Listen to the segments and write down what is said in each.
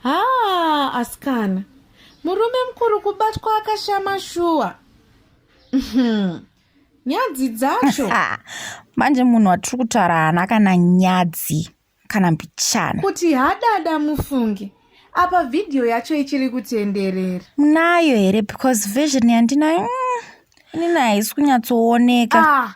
haa asikana murume mukuru kubatwa akashama shuwa uhm, nyadzi dzacho manje munhu watiri kutaura haana kana nyadzi kana mbichana kuti hadada mufunge apa vhidhiyo yacho ichiri kutenderera munayo here because version yandinayo mm, inini haisi kunyatsooneka ah,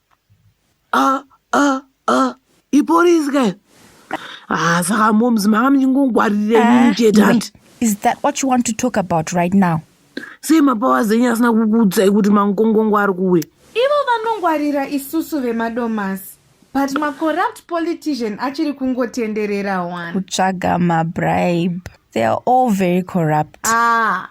a a a ipolisi ke ah saka moms manga muchingongwaririrei eh, chete hanti is that what you want to talk about right now sei mapawa zenyu asina kukuudzai kuti mangongongo ari kuwe ivo vanongwarira isusu vemadomasi but macorrupt politician achiri kungotenderera one kutsvaga mabribe they are all very corrupt ah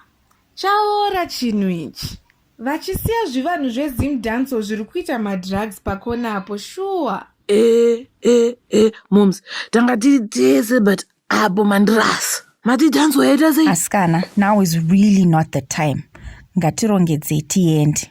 chaora chinhu ichi vachisiya zvivanhu zvezim danco zviri kuita madrugs pakona apo shuwa e e e moms tanga tiri tese but apo mandirasa mati danco yaita sei asikana now is really not the time ngatirongedzei tiende